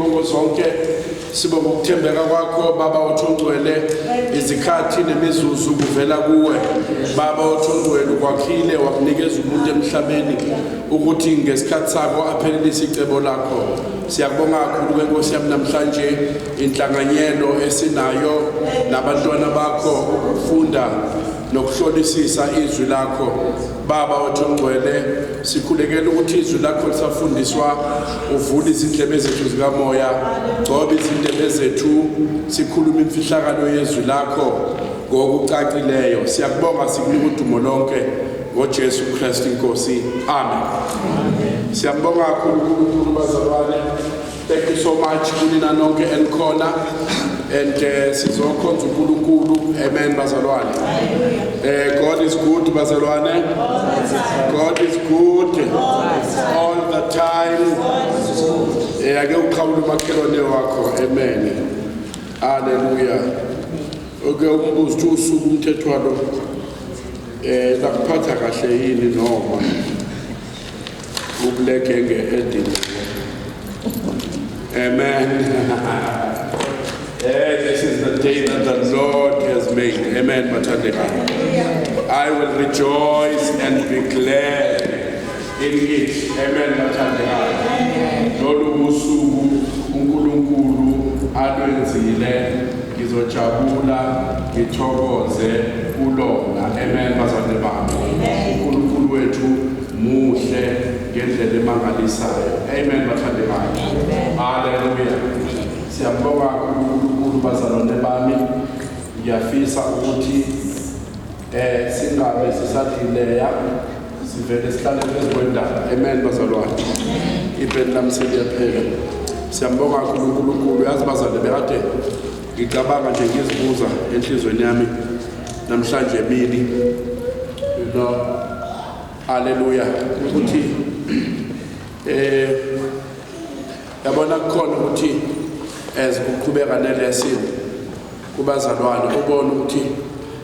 Bongo zonke sibonga ukuthembeka kwakho baba wethu ongcwele izikhathi nemizuzu kuvela kuwe baba wethu ongcwele ukwakhile wakunikeza umuntu emhlabeni ukuthi ngesikhathi sakho aphelelise icebo lakho siyakubonga kakhulu ke nkosi yami namhlanje inhlanganyelo esinayo nabantwana bakho ukufunda nokuhlolisisa izwi lakho Baba wethu ongcwele sikhulekela ukuthi izwi lakho lisafundiswa uvula izindlebe zethu zikamoya gcoba izindebe zethu sikhulume imfihlakalo yezwi lakho ngokucacileyo siyakubonga sikunika udumo lonke ngojesu kristu inkosi amen siyambonga kakhulu unkulunkulu bazalwane Thank you so much kunina nonke enikhona and uh, sizokhonza uNkulunkulu amen bazalwane uh, God is good bazalwane God is good all the time eh, ake uqhawule umakhelwane wakho amen haleluya oke umbuzo ukuthi usuku umthetho walo eh lakuphatha kahle yini noma Ubuleke nge-edini. Amen. Eh, this is the day that the Lord has made. Amen, Matandeka. I will rejoice and be glad in it. Amen, Matandeka. Lolu usuku uNkulunkulu alwenzile ngizojabula ngithokoze kulona. Amen, bazalwane bami. uNkulunkulu wethu Muhle ngendlela emangalisayo. Amen bathande bakhe. Haleluya. Siyambonga uNkulunkulu bazalwane bami. Ngiyafisa ukuthi eh singabe sisadlileya sivele sihlale phezu kwendaba. Amen bazalwane. Ibheni lami seliyaphela. Siyambonga kakhulu uNkulunkulu. Yazi bazalwane bekade ngicabanga nje ngizibuza enhlizweni yami namhlanje emini you know Haleluya. Ukuthi eh yabona kukhona ukuthi as uqhubeka nelesson kubazalwane ubona ukuthi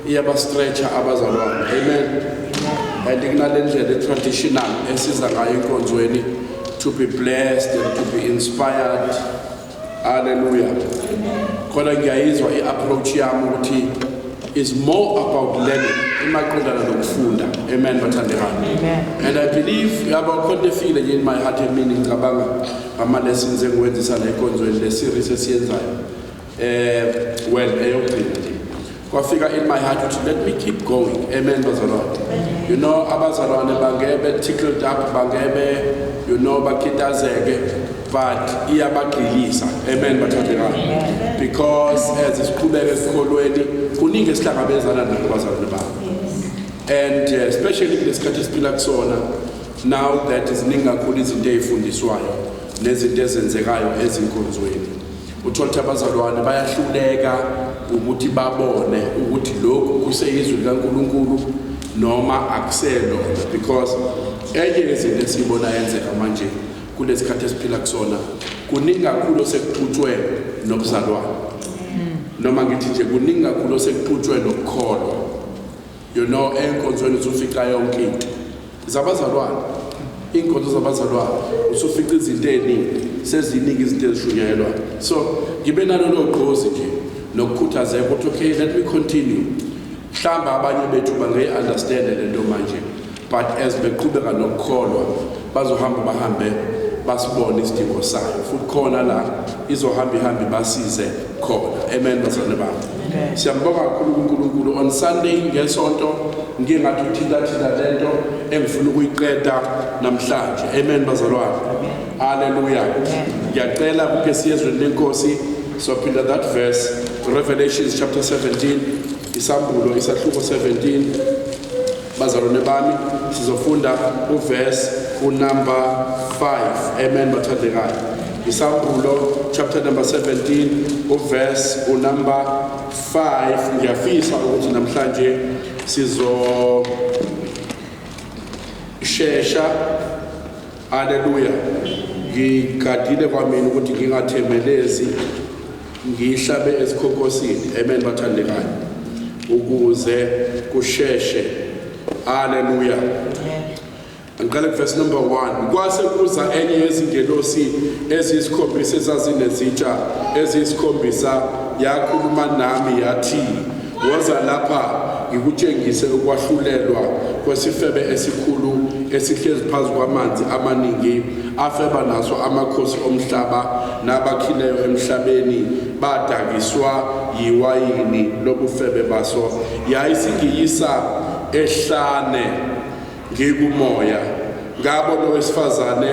iyaba stretcher abazalwane. Amen. And kunalendlela etraditional esiza ngayo inkonzweni to be blessed and to be inspired Hallelujah. Khona ngiyayizwa i-approach yami ukuthi is more about learning imaqondana nokufunda amen bathandekani and i believe yaba khona efile nje in my heart emini ngicabanga ama-lessons engiwenzisa le nkonzweni le series esiyenzayo um well eyokugcina kwafika in my heart ukuthi let me keep going amen bazalwane you know abazalwane bangebe tickled up bangebe you know bakitazeke but iyabagqilisa amen bathandekayo because as siqhubeka esikolweni kuningi esihlangabezana nakho bazalwane babo and uh, especially kulesikhathi esiphila kusona now that ziningi kakhulu izinto ezifundiswayo nezinto ezenzekayo ezinkonzweni Uthola ukuthi abazalwane bayahluleka ukuthi babone ukuthi lokhu kuseyizwi likaNkulunkulu noma akuselona because enye yezinto esiyibona yenzeka manje kulesi khathi esiphila kusona kuningi kakhulu osekuqhutshwe nobuzalwane noma ngithi nje kuningi kakhulu osekuqhutshwe nokukholwa You know enkonzweni usufica yonke into zabazalwane inkonzo zabazalwane usufica izinto eziningi seziningi izinto ezishunyelwa so ngibe nalolo gqozi nje nokukhuthazeka ukuthi okay let me continue mhlawumbe abanye bethu bangeyi-understande le nto manje but as beqhubeka nokukholwa bazohamba bahambe basibone isidingo sayo futhi khona la izohamba ihambe basize khona amen bazalwane bami siyambonga kakhulu uNkulunkulu on Sunday ngesonto ngike ngathi uthinta thinta lento engifuna ukuyiqeda namhlanje amen bazalwane haleluya ngiyacela kuke siyezweni lenkosi sophinda that verse Revelations chapter 17 isambulo isahluko 17 Bazalwane bami sizofunda uverse unumber 5 amen bathandekayo isahlulo chapter number 17 uverse unumber 5 ngiyafisa ukuthi namhlanje sizo shesha haleluya ngigadile kwamina ukuthi ngingathemelezi Ngihlabe esikhokosini. Amen bathandekayo. Ukuze kusheshe. Haleluya. Angiqale verse number 1. Kwase kuza enye yezingelosi eziyisikhombisa ezazinezitsha eziyisikhombisa yakhuluma nami yathi woza lapha ngikutshengise ukwahlulelwa kwesifebe esikhulu esihlezi phezu kwamanzi amaningi afeba naso amakhosi omhlaba Nabakhileyo emhlabeni badakiswa yiwayini lobufebe baso, yayisigiyisa ehlane ngikumoya. Ngabona owesifazane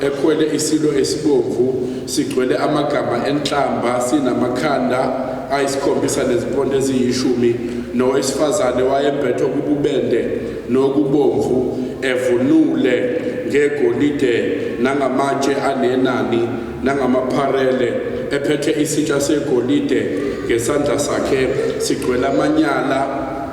ekhwele isilo esibomvu sigcwele amagama enhlamba sinamakhanda ayisikhombisa nezimpondo eziyishumi, nowesifazane wayembethwe kububende nokubomvu evunule ngegolide nangamatshe anenani nangamapharele, ephethe isitsha segolide ngesandla sakhe, sigcwele amanyala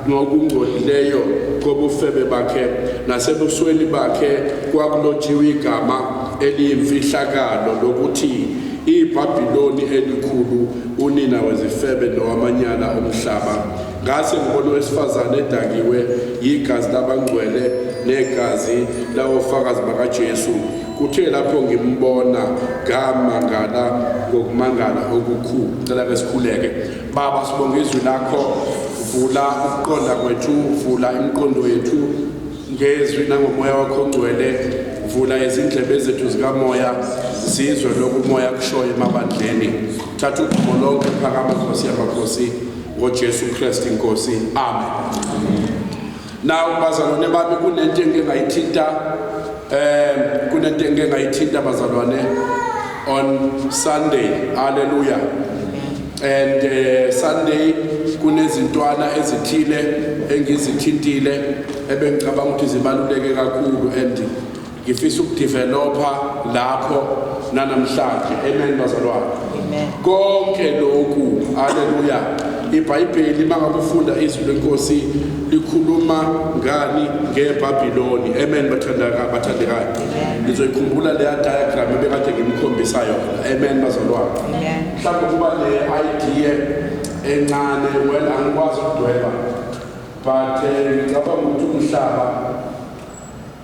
nokungcolileyo kobufebe bakhe, nasebusweni bakhe kwakulotshiwe igama eliyimfihlakalo lokuthi iBhabhiloni Elikhulu, unina wezifebe nowamanyala omhlaba. Ngase ngibona owesifazane edakiwe yigazi labangcwele negazi lawofakazi bakaJesu. Kuthe lapho ngimbona ngamangala ngokumangala okukhulu. Cela ke sikhuleke. Baba sibonga izwi lakho, vula ukuqonda kwethu, vula imiqondo yethu ngezwi nangomoya wakho ongcwele vula izindlebe zethu zikamoya sizwe lokumoya kushoyo emabandleni thatha udumo lonke phakama nkosi yamakhosi NgoJesu Kristu iNkosi. Amen. Now bazalwane bami kunento engike ngayithinta um kunento engike ngayithinta bazalwane on Sunday. Hallelujah. And uh, Sunday kunezintwana ezithile engizithintile ebengicabanga ukuthi zibaluleke kakhulu and Ngifisa ukudeveloper lapho nanamhlanje. Amen bazalwane. Amen. Konke lokhu haleluya. IBhayibheli makakufunda izwi lenkosi likhuluma ngani ngeBabiloni. Amen bathandaka bathandekayo. Nizoyikhumbula leya diagram ebekade ngimkhombisa yona. Amen bazalwane. Amen. Mhlawumbe kuba ne idea encane well angikwazi ukudweba but eh, ngicabanga ukuthi umhlaba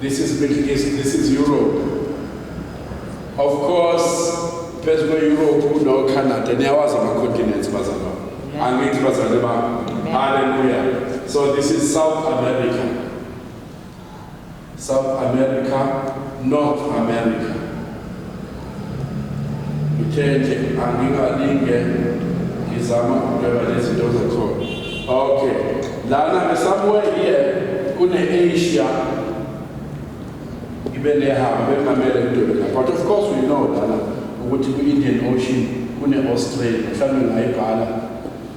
This is Middle East, this is Europe. Of course, phezu kwe-europe unocanada niyawazi ama-continents bazalwa angithi bazalwe ba halleluya so this is south america south america north america Ngithe nje angingalinge ngizama ukudweba lezinto zakhona. Okay. Lana ngesamuwe iye kune-Asia ibe nehaba bekungamele ngidwebe la. But of course we know lana ukuthi kwi-Indian Ocean kune-Australia mhlawumbe ngayibhala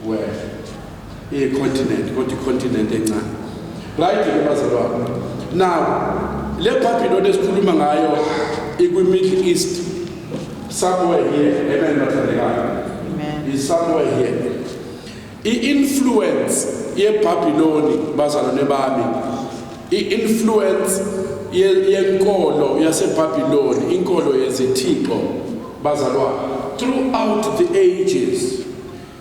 wena. I continent, kodwa i continent encane. Right ke bazalwane. Now, le Babylon esikhuluma ngayo ikwi Middle East. Somewhere here. Amen bathandekayo. Amen. Is somewhere here. I-influence yeBabiloni bazalwane bami i-influence yenkolo yaseBabiloni inkolo yezithixo bazalwane throughout the ages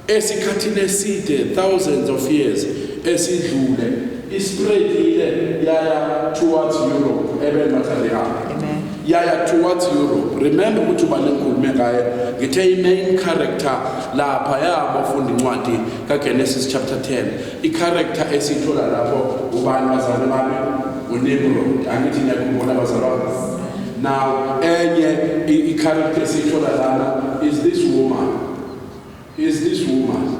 Esikhathini eside, thousands of years, esidlule, ispreadile yaya towards Europe, amen bathandekayo. Amen. yaya towards Europe remember ukuthi uba nengikhulume ngaye ngithe i-main character lapha yabafunda incwadi kaGenesis chapter 10 i-character esiyithola lapho ubani bazalwane bami uNimrod angithi niyakhumbula bazalwane now enye i-character esiyithola lana is this woman is this woman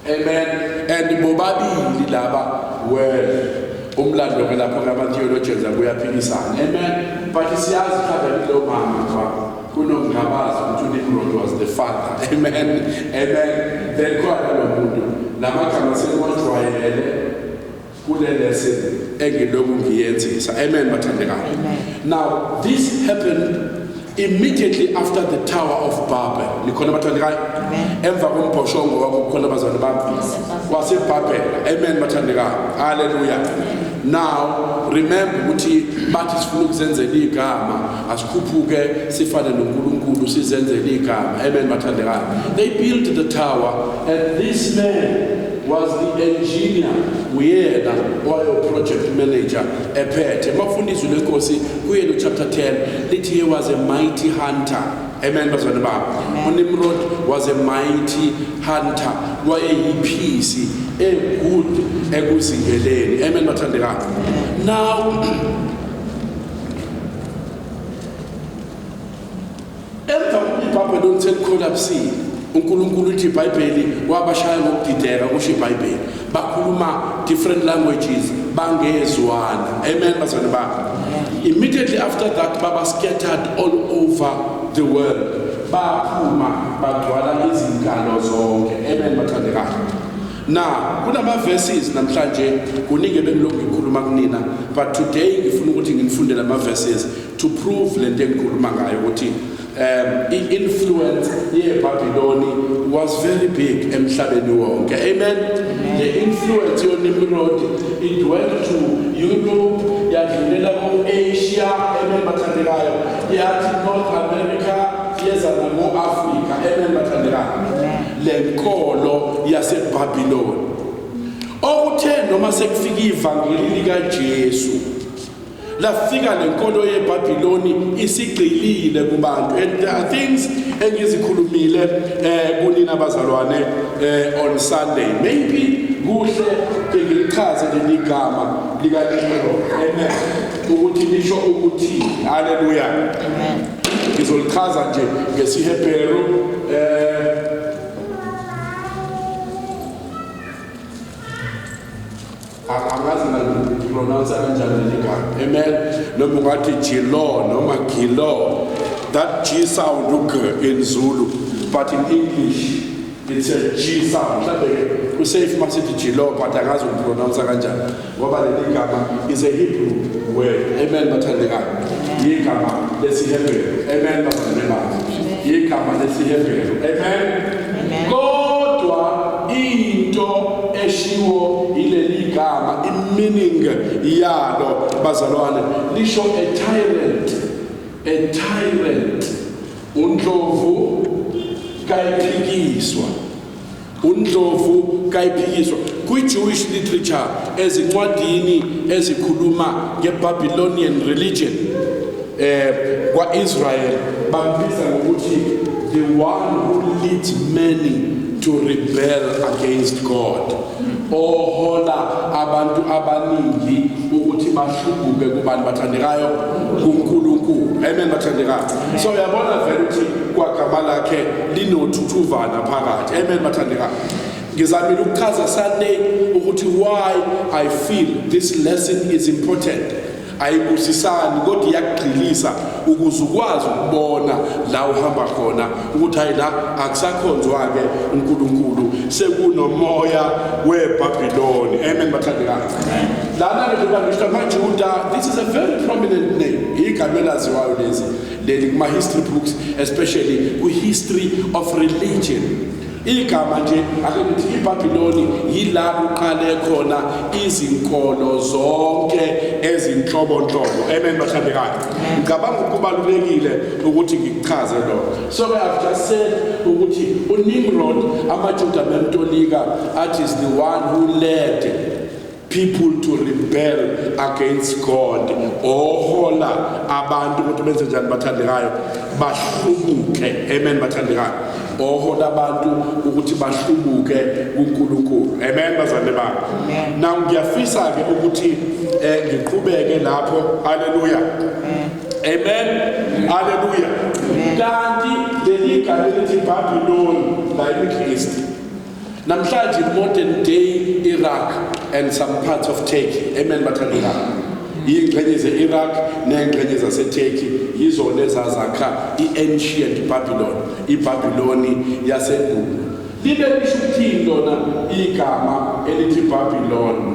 amen and bobabili laba well umlando ke lapho ngama-theologians akuyaphikisana amen but siyazi mhlawumbe kulo mama fa kunomngabazi ukuthi unimrod was the father amen amen then khona lo muntu la magama sekuwajwayele kule lesson engilokhu ngiyenzisa amen bathandekayo now this happened immediately after the tower of babel nikhona bathandekayo emva kombhoshongo wakho kukhona abazali bami wasebabel amen bathandekayo haleluya now remember ukuthi bathi sifuna ukuzenzela igama asikhuphuke sifane noNkulunkulu sizenzele igama amen bathandekayo they built the tower and this man was the engineer uyena owayo project manager ephethe mafunda izwi lenkosi kuye no chapter 10 lithi he was a mighty hunter amen bazalwane bami unimrod was a mighty hunter wayeyiphisi egood ekuzingeleni amen bathandekayo now Emva kokuba iBhabheloni selikholapsile, uNkulunkulu uthi iBhayibheli wabashaya ngokudideka kusho iBhayibheli. Bakhuluma different languages bangezwana. Amen bazalwane bami. Immediately after that baba scattered all over the world. Baphuma bagcwala izinkalo zonke. Amen bathandekayo. Na kunama verses namhlanje kuningi ebengilokhu ngikhuluma kunina but today ngifuna ukuthi nginifundele ama verses to prove lento engikhuluma ngayo ukuthi um i influence ye Babylon was very big emhlabeni wonke amen the influence yo Nimrod it went to Europe yadlulela ku Asia amen bathandekayo yathi North America yeza na mu Africa amen bathandekayo lenkolo yaseBabiloni. Okuthe noma sekufika ivangeli likaJesu lafika lenkolo yeBabiloni isigcilile kubantu and there are things engizikhulumile eh kunina bazalwane eh on Sunday maybe kuhle ngichaze leli gama likaNkulunkulu amen ukuthi lisho ukuthi haleluya ngizolichaza nje ngesiHebheru eh angazi ngipronounce kanjani ligama amen noma ungathi jilo noma gilo that g sound ug in zulu but in english It says G sound. Mhlawumbe kusafe uma sithi G law but angazi ukupronounce kanjani ngoba leli gama is a Hebrew word. Amen bathandekayo. Yigama lesiHebheru. Amen bathandekayo. Yigama lesiHebheru. Amen. Kodwa into eshiwo ileli gama imeaning yalo bazalwane lisho a tyrant. A tyrant. UNdlovu kayiphikiswa uNdlovu kayiphikiswa kwi-Jewish literature ezincwadini ezikhuluma nge-Babylonian religion eh kwa-Israel bambiza ngokuthi the one who leads many to rebel against God ohola abantu abaningi ukuthi bahlubuke kubani bathandekayo kuNkulunkulu amen bathandekayo so uyabona vele ukuthi kwagama lakhe linothuthuvana phakathi amen bathandekayo ngizamile ukuchaza Sunday ukuthi why i feel this lesson is important ayibusisani kodwa iyakugxilisa ukuze ukwazi ukubona la uhamba khona ukuthi hayi la akusakhonzwa-ke unkulunkulu sekunomoya webhabhiloni amen bathandekayo lana-ke njengobangisho amajuda this is a very prominent name igama elaziwayo lezi leli kuma-history books especially kwi-history of religion Igama nje ake ngithi iBabiloni yila kuqale khona izinkolo zonke ezinhlobonhlobo. Amen bathandekayo. Ngicabanga ukubalulekile ukuthi ngikuchaze lokho. So I have just said ukuthi uNimrod amaJuda bemtolika athi is the one who led people to rebel against God ohola abantu ukuthi benze njani bathandekayo bahlubuke amen bathandekayo ohola abantu ukuthi bahlubuke kuNkulunkulu amen bazalwane bami now ngiyafisa ke ukuthi eh, ngiqhubeke lapho haleluya amen haleluya kanti leli gama elithi Babylon la eNgilisi Namhlanje modern day Iraq and some parts of Turkey. Amen bathandekayo. Iy'ngxenye ze-Iraq ney'ngxenye zaseTurkey yizona ezazakha i-ancient Babylon, iBabiloni yasendulo. Libe lisho ukuthini lona igama elithi Babylon?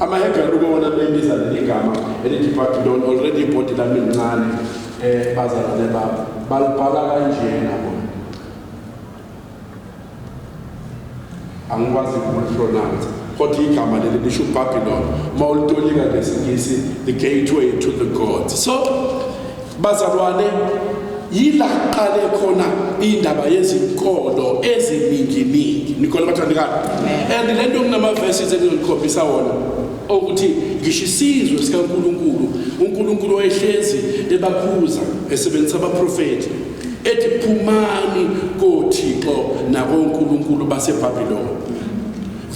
Amahedra lukona libiza leli gama elithi Babylon already ibhodi lami lincane eh bazalwane babo balibhala kanjena bona angikwazi ukulipronounce kodwa igama leli lisho Babylon uma ulitolika ngesingisi the gateway to the gods so Bazalwane, yila kuqale khona indaba yezinkolo ezininginingi nikole bathandekayo and le nto kunamavesi engizonikhombisa wona okuthi ngisho isizwe sikankulunkulu unkulunkulu wayehlezi ebakhuza esebenzisa abaprofethi ethi phumani kothixo nakonkulunkulu basebhabhiloni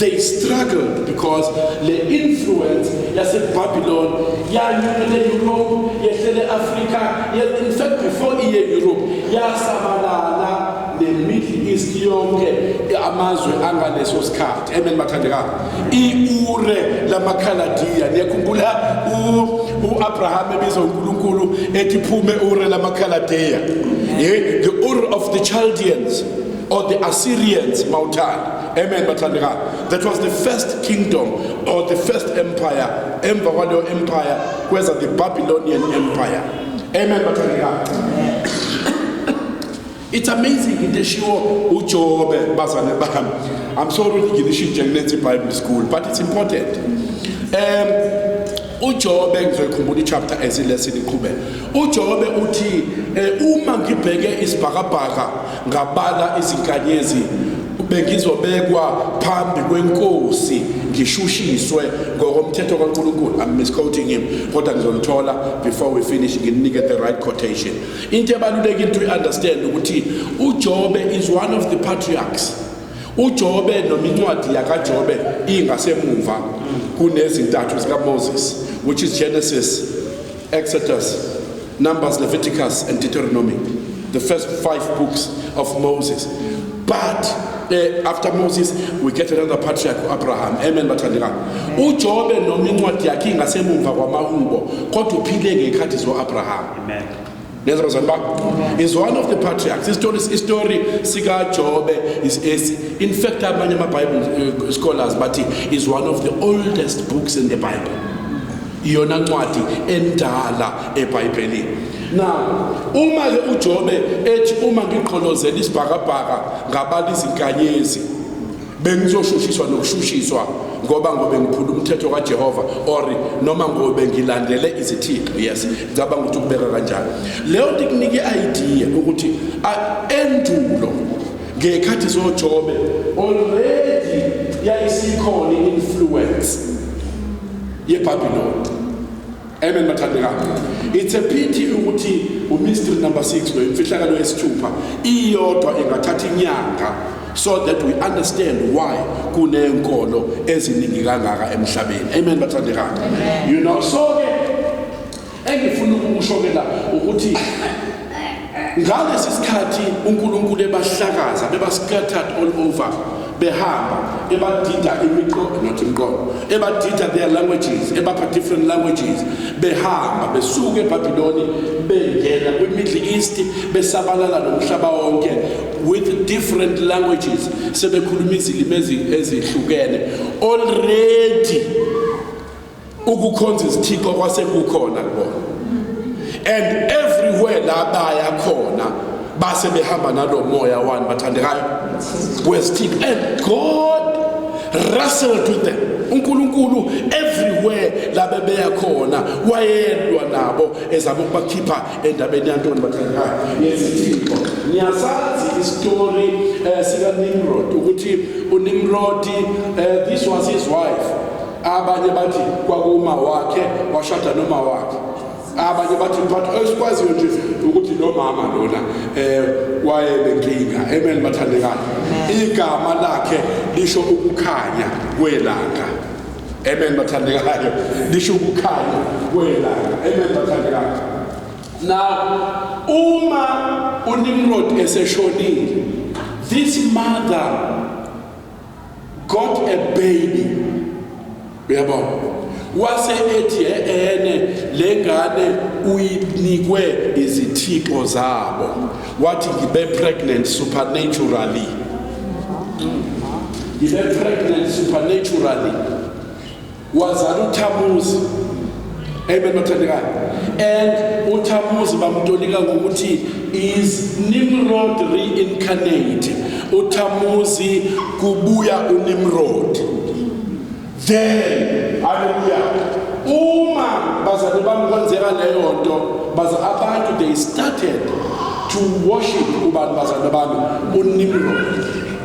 They struggled because le influence yaseBabylon yanyukele Europe yehlele Africa in fact before iye Europe yasabalala ne Middle East yonke amazwe angaleso sikhathi amen bathandekani iure lamakhaladiya niyakhumbula uAbraham ebiza uNkulunkulu ethi phume ure lamakhaladiya yeah the ur of the Chaldeans or the Assyrians mawuthanda Amen bathandekayo. That was the first kingdom or the first empire. Emva kwaleyo empire kweza the Babylonian empire. Amen bathandekayo. It's amazing into eshiwo uJobe bazane bami. I'm sorry ukuthi ngilishintshe kunethi Bible school but it's important. Um uJobe ngizoyikhumbula ichapter esilesini iqhubeka uJobe uthi eh, uma ngibheke isibhakabhaka ngabala izinkanyezi bengizobekwa phambi kwenkosi ngishushiswe ngokomthetho kaNkulunkulu i'm misquoting him kodwa ngizolithola before we finish nginike the right quotation into ebalulekile to understand ukuthi uJobe is one of the patriarchs UJobe noma incwadi yakaJobe ingasemuva kunezintathu zikaMoses which is Genesis, Exodus, Numbers, Leviticus and Deuteronomy. The first five books of Moses. But eh, after Moses we get another patriarch Abraham amen bathandeka uJobe noma incwadi yakhe ingasemuva kwamahubo kodwa uphile ngekhathi zo Abraham amen nezabazali bakho is one of the patriarchs istory istory sikajobe is is in fact abanye ama-bible uh, scholars bathi is one of the oldest books in the bible iyona ncwadi endala ebhayibhelini na uma-ke ujobe ethi uma ngigqolozela isibhakabhaka ngabala izinkanyezi bengizoshushiswa nokushushiswa ngoba ngobe ngiphula umthetho kaJehova or noma ngobe ngilandele izithixo yes ngicabanga ukuthi kubeka kanjalo leyo nto ikunika i-idea ukuthi endulo ngekhathi zoJobe already yayisikhona i-influence yeBabiloni Amen bathandekayo. It's a pity ukuthi uMr number 6 lo imfihlakalo yesithupha iyodwa ingathatha inyanga so that we understand why kunenkolo eziningi kangaka emhlabeni. Amen bathandekayo. You know so engifuna ukusho ke la ukuthi Ngalesi sikhathi uNkulunkulu ebahlakaza bebascattered all over behamba ebadida imiqondo not imiqondo ebadida their languages ebapha different languages behamba besuke eBabiloni bengena kwiMiddle East besabalala nomhlaba wonke with different languages sebekhuluma izilimi ezihlukene already ukukhonza izithixo kwasekukhona kubona and everywhere la baya khona base behamba nalo moya wani bathandekayo wesithixo and god wrestled with them uNkulunkulu everywhere labe beya khona wayelwa nabo ezama ukubakhipha endabeni yantoni bathandekayo yezithixo niyasazi istory eh, sika Nimrod ukuthi uNimrod eh, this was his wife abanye bathi kwakuma wakhe washada noma wakhe abanye bathi but esikwaziyo nje ukuthi lo mama lona eh wayenenkinga amen bathandekayo igama lakhe lisho ukukhanya kwelanga amen bathandekayo lisho ukukhanya kwelanga amen bathandekayo now uma unimrod eseshonile this mother got a baby uyabo wase ethi ene lengane uyinikwe izithixo zabo wathi ngibe pregnant supernaturally ngibe pregnant supernaturally wazala uthamuzi amen bathandekayo and uthamuzi bamtolika ngokuthi is nimrod reincarnate uthamuzi kubuya unimrod then haleluya uma bazali bami kwenzeka leyo nto baza abantu they started to worship ubani bazali bami unimrod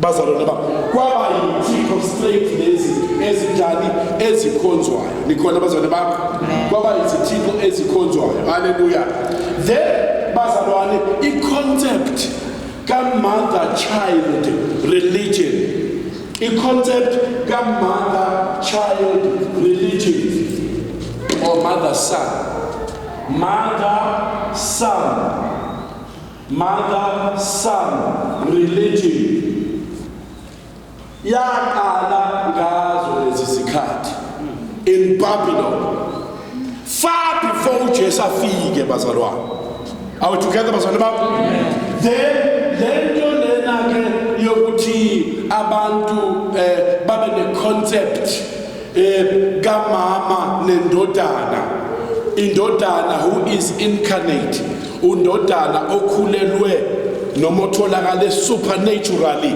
bazalwane bam kwaba yithikho-straight lezi ezinjani ezikhonzwayo nikhona bazalwane bam kwaba yizithikho ezikhonzwayo haleluya then bazalwane i-concept ka-mother child religion i-concept ka-mother child religion or mother son mother son Mother Son Religion yaqala ngazo lezi zikhathi in Babylon far before uJesu afike bazalwane are we together bazalwane bami then lento lena ke yokuthi abantu eh babe ne concept eh kamama nendodana indodana who is incarnate undodana okhulelwe noma otholakale supernaturally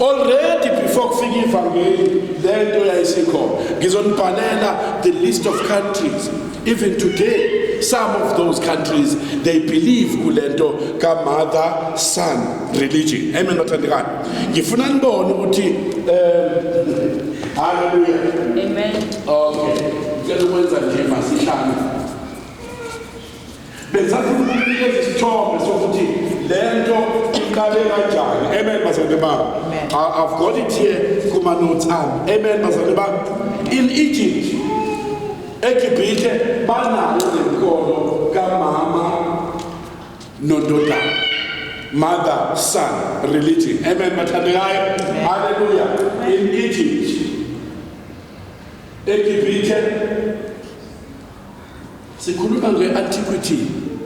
already before kufika ivangeli lento yayisikhona ngizonibhalela the list of countries even today some of those countries they believe kulento ka mother son religion amen bathandikani ngifuna nibone ukuthi um Hallelujah. Amen. Okay. Ngicela ukwenza nje masihlane. Bengisafuna ukunikeza isithombe sokuthi le nto iqale kanjani. Amen bazalwane bami. I- I've got it here kuma notes ami. Amen bazalwane bami. In Egypt eGibhithe banayo le nkono kamama nondodana mother son religion amen bathandekayo haleluya in egypt egibhithe sikhuluma nge-antiquity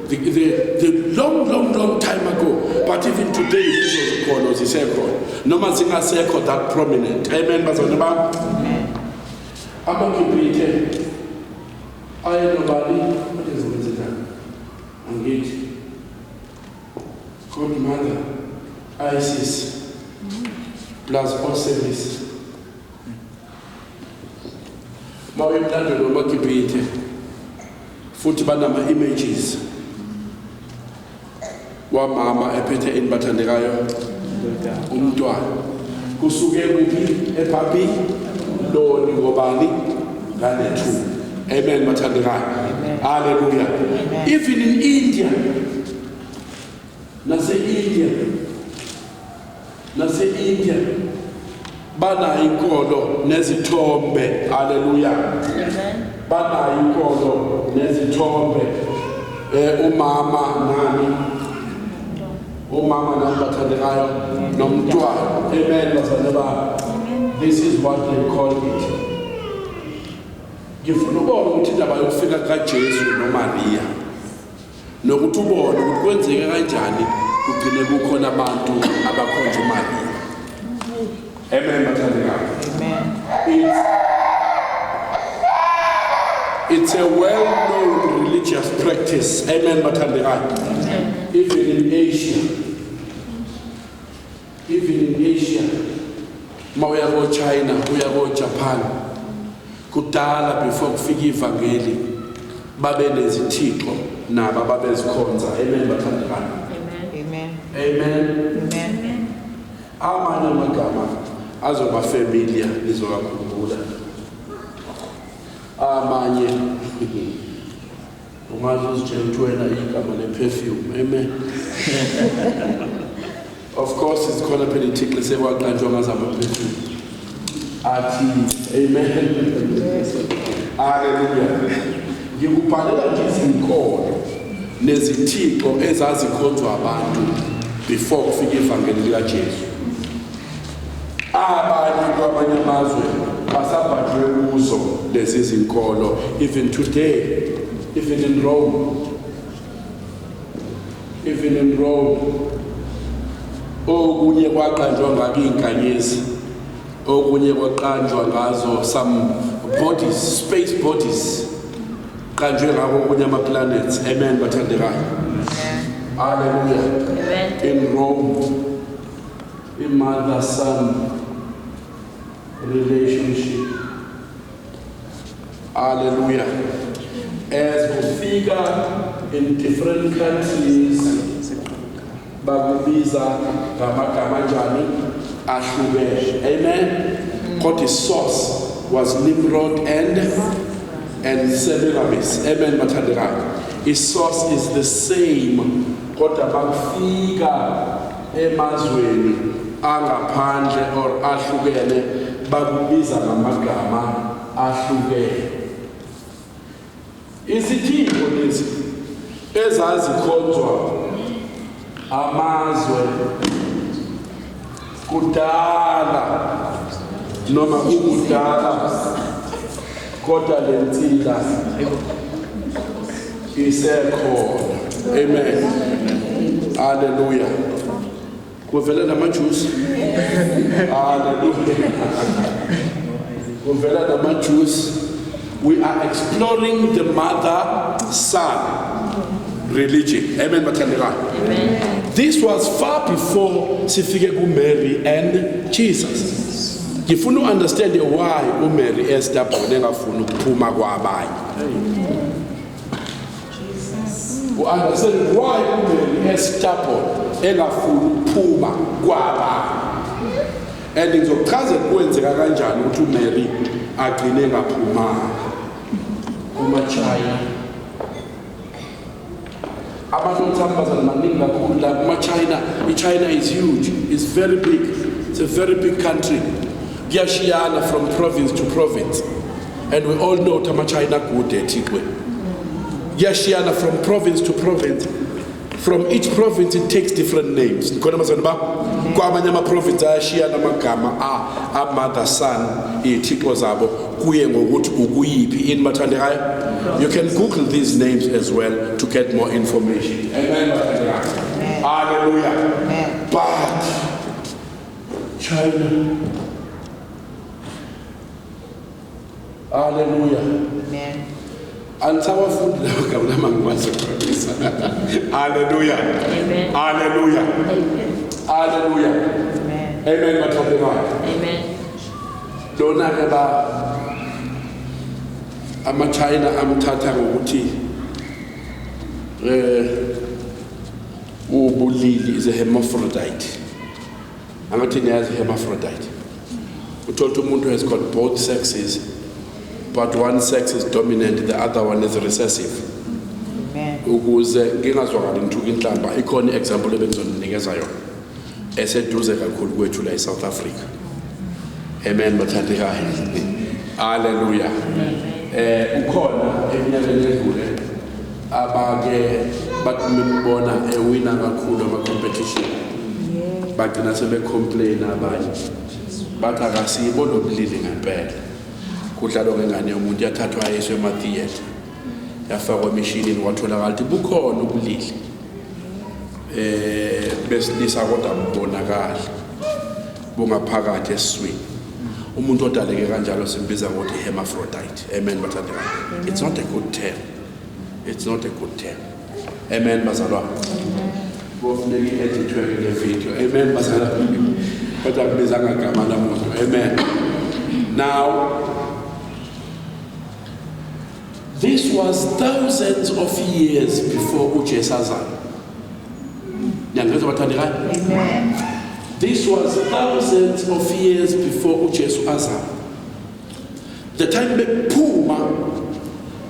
the, the, the long long long time ago but even today lezo zikholo zisekhona noma zingasekho that prominent amen bazalwane bam amagibhithe ayelobani Angithi. Good mother. ISIS. Plus all service. Bawe mlando nomakibhithe. Futhi banama images. Wamama ephethe enibathandekayo umntwana. Kusuke kuphi ebhabhi loni ngobani nganethuba amen bathandekayo haleluya even in india nase-india nase-india banayo inkolo nezithombe haleluya banayo inkolo nezithombe um umama nani Omama nami bathandekayo nomntwana. Amen bazalwane bami. This is what they call it. Ngifuna ubone ukuthi indaba yokufika kaJesu noMaria nokuthi ubone ukuthi kwenzeke kanjani kugcine kukhona abantu abakhonza uMaria. Amen bathandekayo. Amen. It's, it's a well-known religious practice. Amen bathandekayo. Even in Asia. Even in Asia. Uma uya ko China, uya ko Japan. Kudala before kufika ivangeli babe nezithixo nabo ababezikhonza. Amen bathandekayo. Amen. Amen. Amen. Amanye amagama azoba familiar nizowakhumbula. Amanye ungaze uzitshela ukuthi wena igama le-perfume amen of course sikhona phela ithixi sekwaqanjwa ngazama-perfume athi amen haleluya ngikubhalela nje izinkolo nezithixo ezazikhonzwa abantu before kufika ivangeli likajesu abanye kwamanye amazwe basabhajwe kuzo lezi zinkolo even today even in rome Evelyn Road okunye kwaqanjwa ngakho izinkanyezi okunye kwaqanjwa ngazo some bodies space bodies qanjwe ngakho okunye ama planets amen bathandekayo haleluya in Rome imother son relationship Hallelujah. As we figure in different countries, bakubiza ngamagama njani ahlukene. Amen. Kodwa isource was Nimrod and and Semiramis. Amen bathandekayo. Isource is the same kodwa bakufika emazweni angaphandle or ahlukene bakubiza ngamagama ahlukene isithimbo lesi ezazikhonzwa amazwe kudala noma kukudala kodwa le nsila isekhona amen haleluya kuvela namajusi haleluya kuvela namajusi we are exploring the mother son religion amen bathandekayo this was far before sifike kumary and jesus ngifuna u-understande why umary estabon engafuni ukuphuma kwabanye u-understand why umary estabon engafuni ukuphuma kwabanye and ngizokuchazela kwenzeka kanjani ukuthi umary agcine engaphumanga kumachina abantu omthambazane maningi kakhulu la kumachina ichina is huge is very big it's a very big country kuyashiyana from province to province and we all know ukuthi amachina akude ethikwe kuyashiyana from province to province from each province it takes different names khona mazana ba kwamanye ama-province ayashiyana amagama a-mother son iy'thixo zabo kuye ngokuthi ukuyiphi ini bathandekayo you can google these names as well to get more information amen bathandekayo haleluya but china haleluya amen Angisawafundi lawo gama lama ngikwazi ukuqondisa. Haleluya. Amen. Haleluya. Amen. Haleluya. Amen. Amen bathathe ngakho. Amen. Lona ke ba ama China amthatha ngokuthi eh ubulili is a hermaphrodite. angathi niyazi hermaphrodite uthole ukuthi umuntu has got both sexes but one sex is dominant the other one is recessive ukuze ngingazwakali ngithuka inhlamba ikhona i-example ebengizoninikeza yona eseduze kakhulu kwethu la e-south africa amen bathandekayo haleluya um ukhona eminyakeni edlule abake bathi bembona ewina kakhulu ama-competition bagcina sebecomplaina abanye bathi akasibo lo bulili ngempela kudlalwa ngengane yomuntu yathathwa yeswe emathiyetha yafakwa emishinini kwatholakala ukuthi bukhona ubulili eh besilisa kodwa bubonakala bungaphakathi esiswini umuntu odaleke kanjalo simbiza ngokuthi hermaphrodite amen bathandekayo it's not a good term It's not a good term. Amen bazalwane. Kofuneka i-edithwe le video. Amen bazalwane. Kodwa kubiza ngagama lamuntu. Amen. Now This was thousands of years before uJesu azalwa. Niyangizwa bathandekayo? Amen. This was thousands of years before uJesu azalwa. The time bekuphuma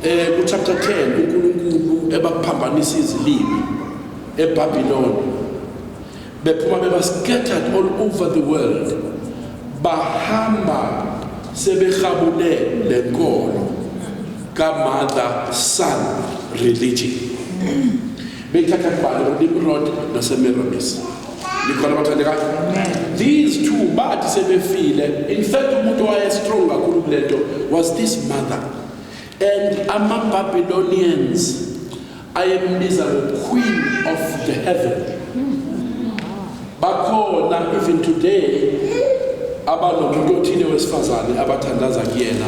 eh ku chapter 10 uNkulunkulu ebakuphambanisa izilimi eBabylon bephuma beba scattered all over the world bahamba sebehabule lenkolo ka mother son religion Beyithatha kubani uNimrod noSemiramis. Nikhona bathandekayo? These two bathi sebefile. In fact umuntu waye strong kakhulu kulento was this mother. And ama Babylonians ayembiza the queen of the heaven. Bakhona even today abanomuntu othile wesifazane abathandaza kuyena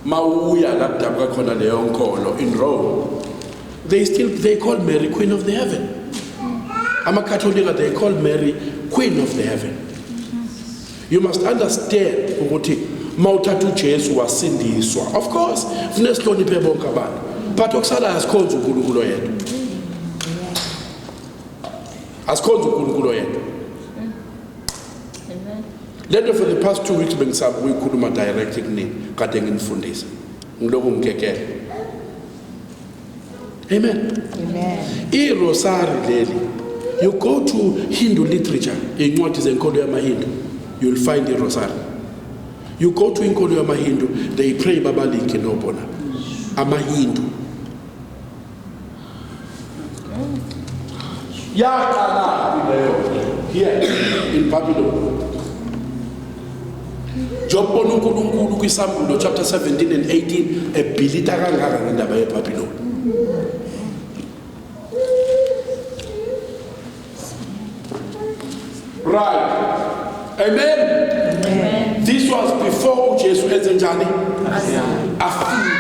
Mawuya la kudabuka khona leyo nkolo in Rome. They still they call Mary Queen of the Heaven. AmaKatolika they call Mary Queen of the Heaven. You must understand ukuthi mawuthatha uJesu wasindiswa. Of course, fune sihloniphe bonke abantu. But okusalayo sikhonza uNkulunkulu yedwa. Asikhonza uNkulunkulu yedwa. Amen. Le nto for the past two weeks bengisaba ukuyikhuluma direct kunini kade nginifundisa ngilokhu ngikekele amen irosari leli you go to hindu literature iy'ncwadi zenkolo yamahindu you'll find irosari you go to inkolo yamahindu they pray babalike nobona amahindu yaqalaphi leyo here in babylon njengokubona uNkulunkulu kwiSambulo chapter 17 and 18 ebhilita kangaka ngendaba yeBabiloni right amen, amen. this was before uJesu enze njani afika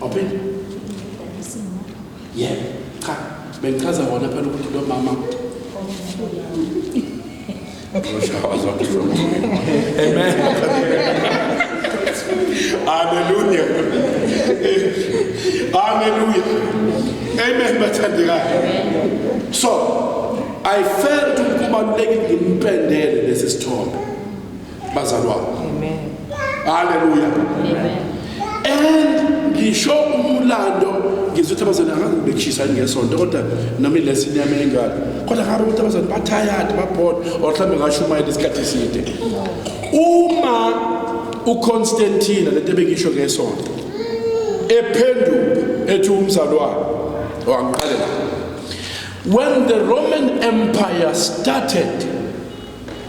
Awuphinde? Yeah. Cha, bengichaza wona phela ukuthi lo mama Amen. Hallelujah. Hallelujah. Amen bathandekayo. So, I felt ukuthi kubalulekile ngimpendele lesi sithombe. bazalwane amen haleluya amen and ngisho umlando ngizwe ukuthi abazali angazi bechisa ngesonto kodwa noma ilesi inyama engaka kodwa ngabe ukuthi abazali bathayadi babhoda or mhlawumbe ngashumayela isikhathi eside uma uconstantina lento ebekisho ngesonto ephenduka ethi umzalwane wangiqalela when the roman empire started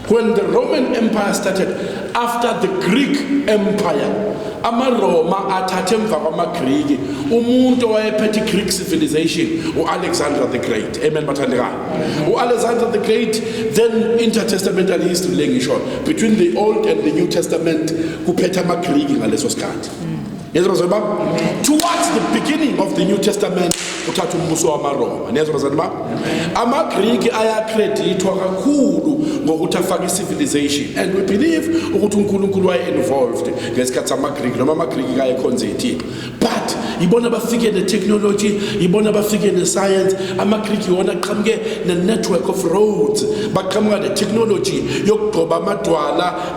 When the Roman Empire started, after the Greek Empire, amaRoma athathe emva kwamaGriki umuntu owayephethe iGreek civilization uAlexander the Great amen bathandekayo uAlexander the Great then intertestamental history lengisho between the old and the new testament kuphethe amaGriki ngaleso sikhathi mm. Niyezwa bazali bami? Towards the beginning of the New Testament uthatha umbuso wamaRoma. Niyezwa bazali bami? AmaGriki ayakredithwa kakhulu ngokuthi afake civilization and we believe ukuthi uNkulunkulu waye involved ngesikhathi amaGriki noma amaGriki kayekhonza ithixo. But ibona bafike ne technology, ibona bafike ne science, amaGriki wona aqhamuke ne network of roads, baqhamuka ne technology yokugcoba amadwala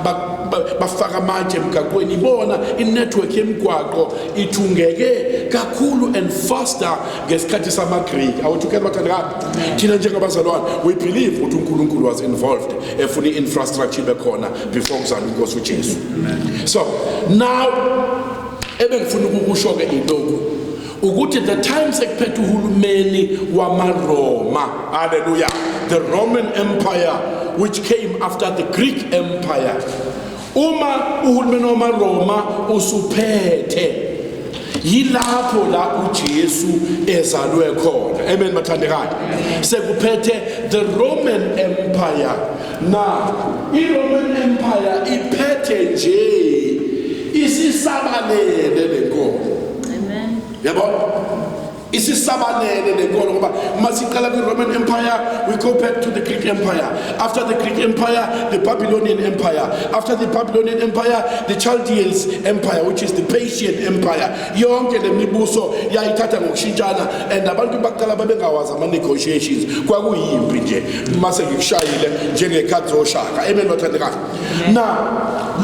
bafaka amatshe emgaqweni ibona inetwork yemigwaqo ithungeke kakhulu and faster ngesikhathi samagriki awuthukela bathandakala thina njengabazalwane we believe ukuthi unkulunkulu was involved efuna i-infrastructure ibe khona before kuzala inkosi ujesu so now ebengifuna ukukusho-ke iloku ukuthi the time sekuphethe uhulumeni wamaRoma haleluya the Roman Empire which came after the Greek Empire uma uhulumeni wamaRoma usuphethe yilapho la uJesu ezalwe khona amen bathandekayo sekuphethe the Roman Empire na iRoman Empire iphethe nje isisabalele lenkomo Amen. Yabona? isisabalele le nkolo ngoba uma siqala kwi-roman empire we go back to the greek empire after the greek empire the babylonian empire after the babylonian empire the chaldeans empire which is the persian empire yonke le mibuso yayithatha ngokushintshana and abantu baqala babengawazi ama-negotiations kwakuyimpi nje uma sengikushayile njengekhathi zoshaka amen bathandekayo na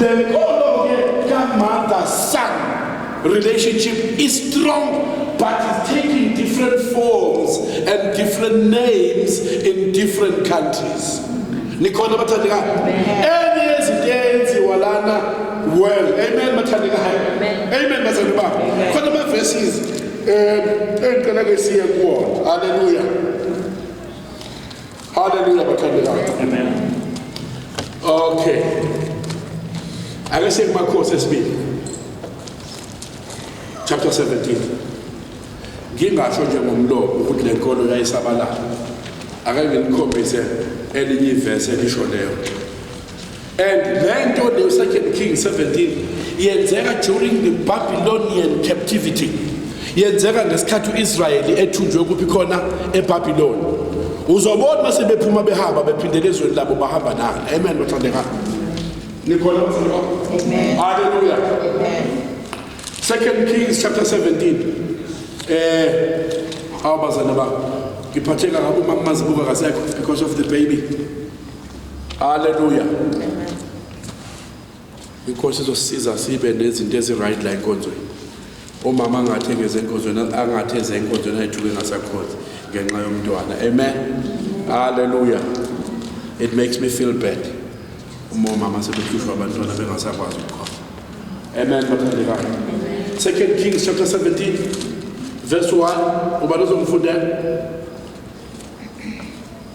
le nkolo-ke kamother son Relationship is strong, but it's taking different forms and different names in different countries. Nikhona bathandekayo. Enye yezinto eyenziwa lana well. Amen bathandekayo. Amen bazalwane bami. Khona ama verses eh engicela ke siye kuwona. Hallelujah. Hallelujah bathandekayo. Amen. Okay. Ake siye kumakhosi esibili. Chapter 17. Ngingasho nje ngomlomo ukuthi le nkolo yayisabalala. Ake nginikhombise elinye ivesi elisho leyo. And le nto le Second King 17 yenzeka during the Babylonian captivity. Yenzeka ngesikhathi uIsrayeli ethunjwe kuphi khona eBabylon. Uzobona mase bephuma behamba bephindele ezweni labo bahamba nalo. Amen bathandeka. Nikhona bathandeka. Amen. Hallelujah. Amen. Second Kings chapter 17. Eh awubazana ba ngiphatheka ngabo mama mazibuka kasekho because of the baby. Hallelujah. Amen. Inkosi izosiza sibe nezinto eziright la enkonzweni. Umama angathi engeze enkonzweni, angathi eze enkonzweni ayithuke ngasakhona ngenxa yomntwana. Amen. Hallelujah. It makes me feel bad. Uma umama sebehlushwa abantwana bengasakwazi ukukhona. Amen bathandekayo. Second Kings chapter 17 verse 1 ubani uzomfundela?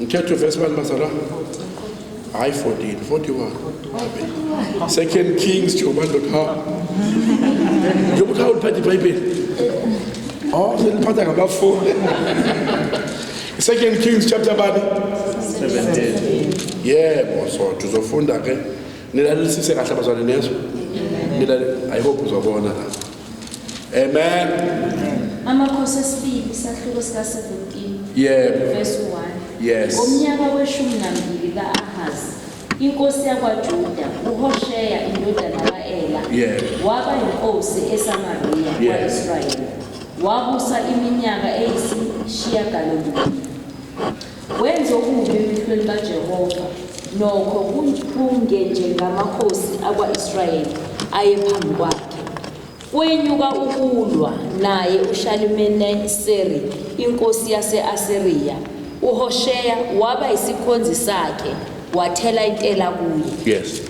Mthetho Vesman Mazara. Hayi 14, 41. Second Kings njengoba ndoda ha. Njengoba uthi awuliphatha iBhayibheli. Oh, seliphatha ngabafundi. Second Kings chapter bani? 17. Yebo, so tuzofunda ke. Nilalelisise kahle abazalwane nezwe. Nilale, I hope uzobona la. Amen. Amakhosi esibili isahluko sika 17 Yebo. verse 1. Yes. Ngomnyaka weshumi nambili ka-Ahazi, inkosi yakwaJuda, uHosheya indodana ka-Ela, Yebo. waba yinkosi eSamariya Yes. kwa-Israyeli. Wabusa iminyaka eyisishiyagalombili. Wenza okubi emehlweni kaJehova, nokho kungenjengamakhosi akwa-Israyeli ayephambi kwakhe. Kwenyuka ukulwa naye uShalimaneseri inkosi yase-Asiriya, uHosheya waba yisikhonzi sakhe, wathela intela kuye. Yes.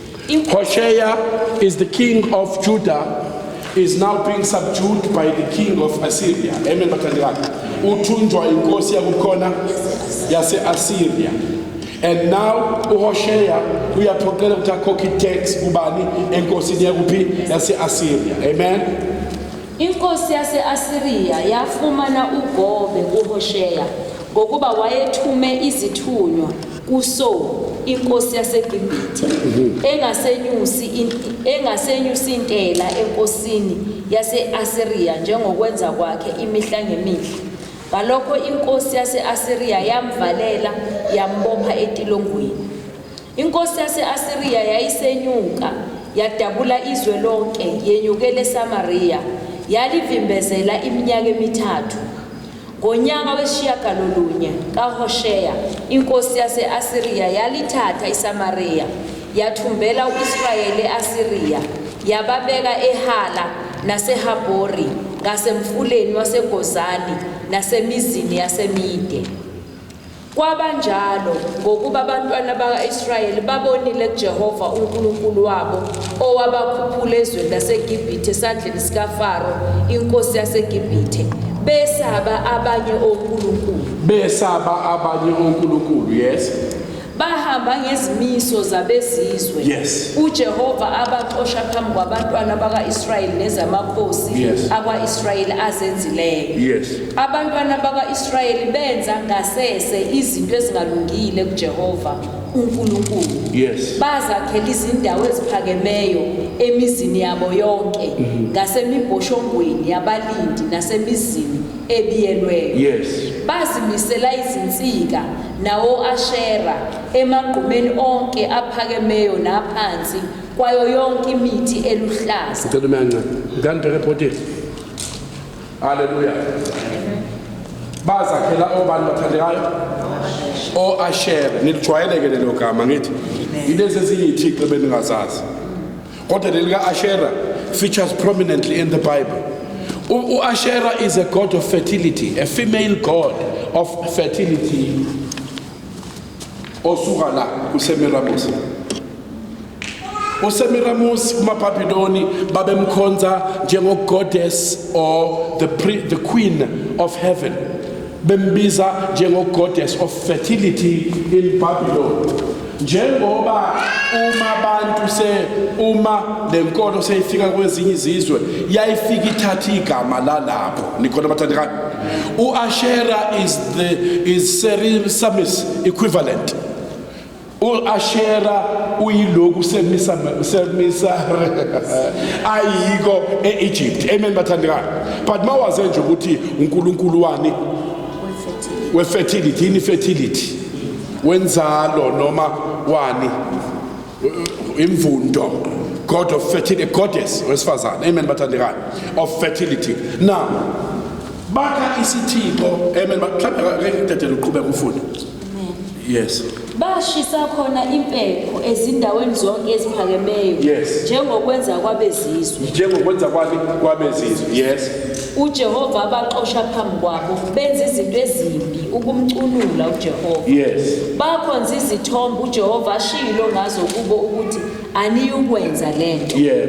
Hoshea is the king of Judah is now being subdued by the king of Assyria. Amen bathandikani. Uthunjwa inkosi yakukhona yase-Assyria. And now uHoshea uyaphoqela ukuthi akhokhe i-tax kubani enkosini yakuphi yase-Assyria. Amen. Inkosi yase-Asiriya yafumana uGobe kuHosheya ngokuba wayethume izithunywa kuSo inkosi yaseGibhithe mhm. engasenyusi engasenyusi intela enkosini yase-Asiriya njengokwenza kwakhe imihla ngemihla ngalokho inkosi yase-Asiriya yamvalela yambopha etilongweni Inkosi yase-Asiriya yayisenyuka, yadabula izwe lonke, yenyukela eSamariya, yalivimbezela iminyaka emithathu. Ngonyaka wesishiyagalolunye kaHosheya, inkosi yase-Asiriya yalithatha iSamariya, yathumbela u-Israyeli e-Asiriya, yababeka eHala naseHabori, ngasemfuleni waseGozani nasemizini yaseMide. Kwabanjalo ngokuba abantwana baka-Israyeli babonile kuJehova uNkulunkulu wabo owabakhuphula ezweni laseGibhithe esandleni sikaFaro inkosi yaseGibhithe besaba abanye onkulunkulu besaba abanye onkulunkulu yes bahamba ngezimiso zabezizwe yes. uJehova abaxosha phambi kwabantwana baka-Israyeli nezamakhosi yes. akwa-Israyeli azenzileyo yes. Abantwana bakwa-Israyeli benza ngasese izinto ezingalungile kuJehova uNkulunkulu. Yes. Bazakhela izindawo eziphakemeyo emizini yabo yonke mhm. ngasemibhoshongweni yabalindi nasemizini ebiyelweyo. Yes. Bazimisela izinsika nawo Ashera emagqumeni onke aphakemeyo naphansi kwayo yonke imithi eluhlaza. Ngicela uyanca. Ngani bheke ebhodini. Haleluya. Bazakhela obani bathandekayo? O-Ashere. Nilijwayeleke lelo gama ngithi. Yilezi ezinye ithixo ebeningazazi. Kodwa leli ka-Ashera features prominently in the Bible. U- U-Ashera is a god of fertility, a female god of fertility. Osuka la kuSemiramis. usemiramusi kumabhabhiloni babemkhonza njengogoddess or the, pre, the queen of heaven bembiza njengogoddess of fertility in babylon njengoba uma abantu se uma lenkolo seyifika kwezinye izizwe yayifika ithatha igama lalapho nikhona bathandekayo uashera is the is serisamis equivalent U-Ashera uyiloku semisa semisa ayiko e-Egypt amen bathandekayo but mawaze nje ukuthi uNkulunkulu wani we-fertility yini fertility wenzalo noma wani imvundo god of fertility goddess wesifazane amen bathandekayo of fertility now bakha isithixo amen mhlawumbe ngeke ngidedele uqhubeka ufunda Yes. Bashisa khona impepho ezindaweni zonke eziphakemeyo Yes. njengokwenza kwabezizwe. Njengokwenza kwabe kwabezizwe. Yes. UJehova abaxosha phambi kwabo benza izinto ezimbi ukumcunula uJehova. Yes. Bakhonza izithombe uJehova ashilo ngazo kubo ukuthi aniyukwenza lento. Yeah.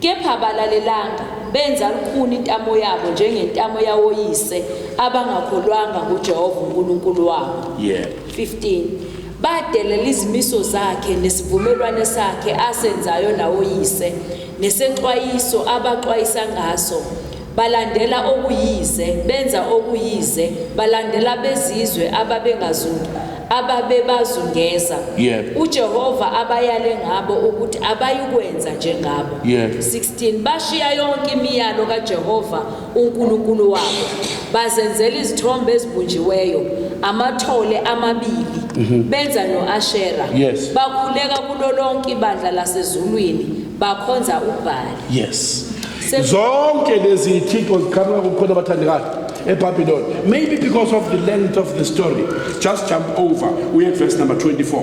Kepha abalalelanga, benza lukhuni intamo yabo njengentamo yawoyise abangakholwanga nguJehova uNkulunkulu wabo. Yeah. 15. Badelela izimiso zakhe nesivumelwane sakhe asenzayo nawoyise, nesexwayiso abaxwayisa ngaso. balandela okuyize, benza okuyize, balandela bezizwe ababengazundu, ababebazungeza. Yebo. UJehova abayale ngabo ukuthi abayikwenza njengabo. Yebo. 16 bashiya yonke imiyalo kaJehova uNkulunkulu wabo bazenzela izithombe ezibunjiweyo amathole amabili benza noAshera Yes. bakhuleka kulo lonke ibandla lasezulwini bakhonza uBhali yes Se- zonke lezi thixo ziqhamuka kukhona abathandekayo ebabylon maybe because of the length of the story just jump over uye verse number 24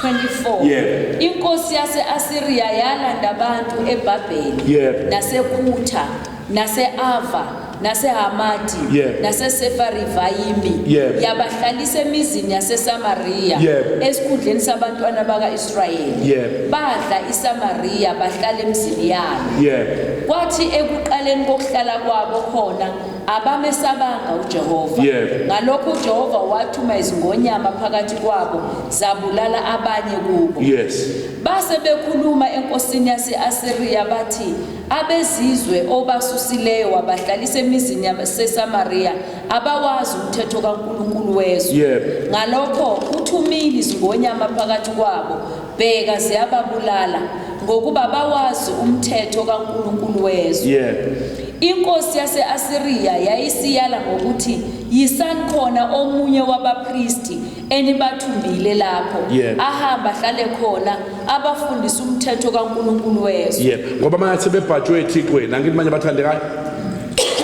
24 Yeah. inkosi yase-asiriya yalanda abantu ebhabheli Yeah. nasekhutha nase-ava nasehamati Yebo. nasesefarivayimi Yebo. yabahlalisa emizini yasesamariya Yebo. esikhundleni sabantwana baka-israyeli Yebo. badla isamariya bahlala emzini yalo yebo kwathi ekuqaleni kokuhlala kwabo khona abamesabanga ujehova Yebo. ngalokho ujehova wathuma izingonyama phakathi kwabo zabulala abanye kubo yes base bekhuluma enkosini yase-asiriya bathi Abezizwe obasusileyo wabahlalisa emizini yaseSamariya abawazi umthetho kaNkulunkulu wezwe. Yebo. Ngalokho uthumile izingonyama phakathi kwabo, bheka ziyababulala ngokuba bawazi umthetho kaNkulunkulu wezwe. Yebo. Inkosi yase-Asiriya yayisiyala ngokuthi, Yisani khona omunye wabapristi enibathumbile lapho Yep. ahamba ahlale khona abafundisa umthetho kaNkulunkulu wezwe yebo ngoba manje sebebhajwe ethixweni angithi manje bathandekayo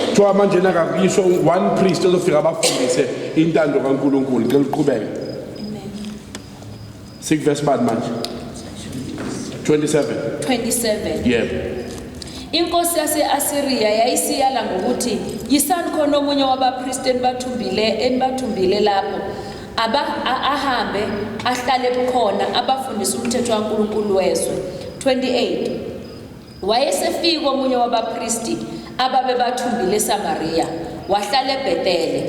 kuthiwa manje nakakuyiswa one priest ozofika abafundise intando kankulunkulu ngicela uqhubeke sikuvesi bani manje 27 27 yebo Inkosi yase-Asiriya yayisiyala ngokuthi, Yisani khona omunye wabapristi enibathumbile enibathumbile lapho aba ahambe ahlale bukhona abafundisa umthetho kaNkulunkulu wezwe 28 wayesefika omunye wabapristi ababebathumbile eSamariya wahlala eBhetele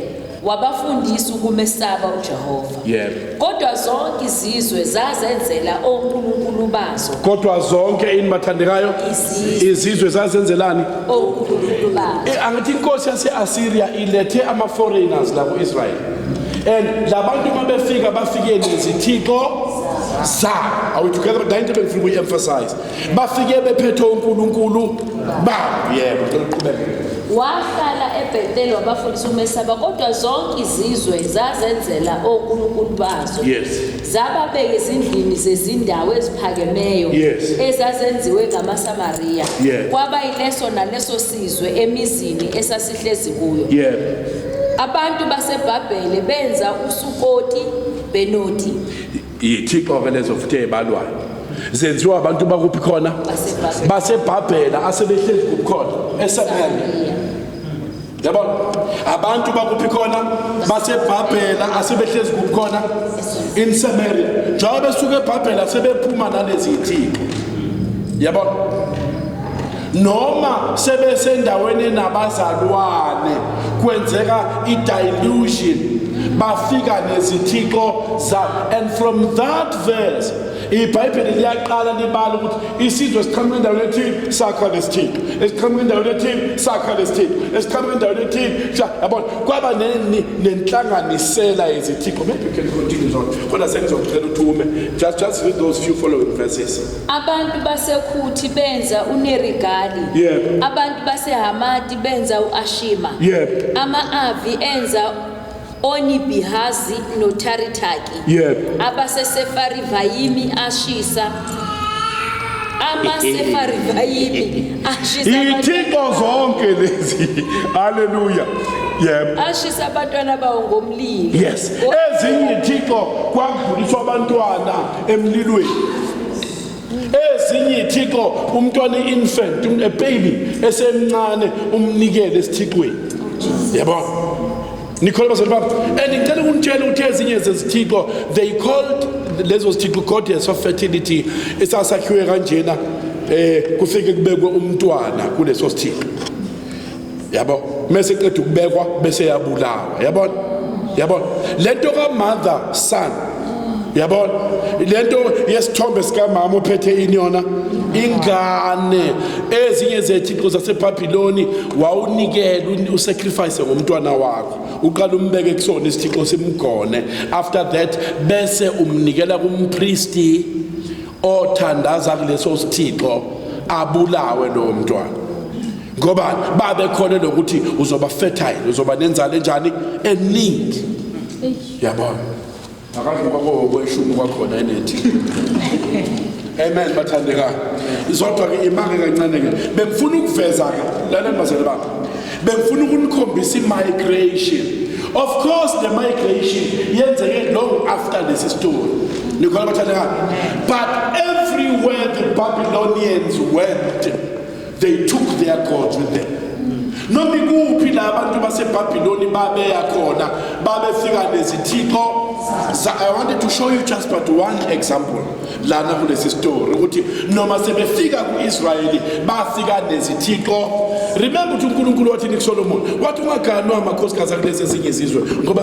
wabafundisa ukumesaba uJehova Yebo. kodwa zonke izizwe zazenzela onkulunkulu bazo kodwa zonke ini bathandekayo Izizwe. izizwe zazenzelani onkulunkulu bazo Eh, angithi inkosi yase-asiriya ilethe ama-foreigners la ku-israyeli and la bantu uma befika bafike nezithixo zabo are we together but into ebengifuna ukuyi-emphasize bafike bephethe uNkulunkulu ba yebo cela uqhubeke wahlala eBethel wabafundisa umesaba kodwa zonke izizwe zazenzela onkulunkulu bazo yes zababeka ezindlini zezindawo eziphakemeyo yes. ezazenziwe ngamaSamaria yeah. kwaba ileso naleso sizwe emizini esasihlezi kuyo yeah. abantu baseBhabhele benza uSukoti Benoti yithixo-ke lezo futhi eyibalwayo zenziwa abantu bakuphi khona basebhabhela asebehleli kuphi khona esamariya yabona abantu bakuphi khona basebhabhela asebehlezi kuphi khona in samaria njengoba besuke ebhabhela sebephuma nalezi yithixo yabona noma sebesendaweni nabazalwane kwenzeka i-dilution bafika nezithixo zabo and from that verse ibhayibheli liyaqala libala ukuthi isizwe siqhamuka endaweni ethile sakha lesithixo esiqhamuka endaweni ethile sakha lesithixo esiqhamuka endaweni ethile yabona kwaba nenhlanganisela yezithixo maybe you can continue zona kodwa sengizocela ukuthi ume just just read those few following verses Abantu baseKhuthi benza uNerigali. Yebo. Abantu baseHamati benza uAshima. Yebo. Ama-Avi enza oNibihazi noTharitaki. Yebo. Abasesefarivayimi ashisa amasefarivayimi ashisa abantu- Iyithixo zonke lezi. Hallelujah. Yebo. ashisa abantwana bawo ngomlilo. Yes. Ezinye ithixo kwakudluliswa abantwana emlilweni ezinye ithixo umntwana i-infant a baby esemncane umnikele esithixweni yabona nikholwa bazali bami and ngicela ukunitshela ukuthi ezinye zezithixo they called lezo zithixo goddess of fertility esasakhiwe kanjena um kufike kubekwe umntwana kuleso sithixo yabo mese qeda ukubekwa bese yabulawa yabona yabona lento ka mother son yabona lento yesithombe sikamama ophethe ini yona ingane ezinye zethixo zasebhabhiloni wawunikela usacrifice ngomntwana wakho uqala umbeke kusona isithixo simgone after that bese umnikela kumpristi othandaza kuleso sithixo abulawe lowo mntwana ngoba babekhole lokuthi uzoba fertile uzoba nenzalo enjani eningi yabona akazoba kowokweshumi kwakhona enethi amen bathandekayo zodwa-ke imake kancane-ke bengifuna ukuveza-ke laleni bazali bami bengifuna ukunikhombisa i-migration of course the migration yenzeke long after lesi story nikhona bathandekayo but everywhere the babylonians went they took their gods with them noma ikuphi la abantu basebhabhiloni babeya khona babefika nezithixo So I wanted to show you just but one example lana kulesi story ukuthi noma sebefika kuIsrayeli bafika nezithixo remember ukuthi uNkulunkulu wathi nikusolomo wathi ungaganwa amakhosikazi akulezi ezinye izizwe ngoba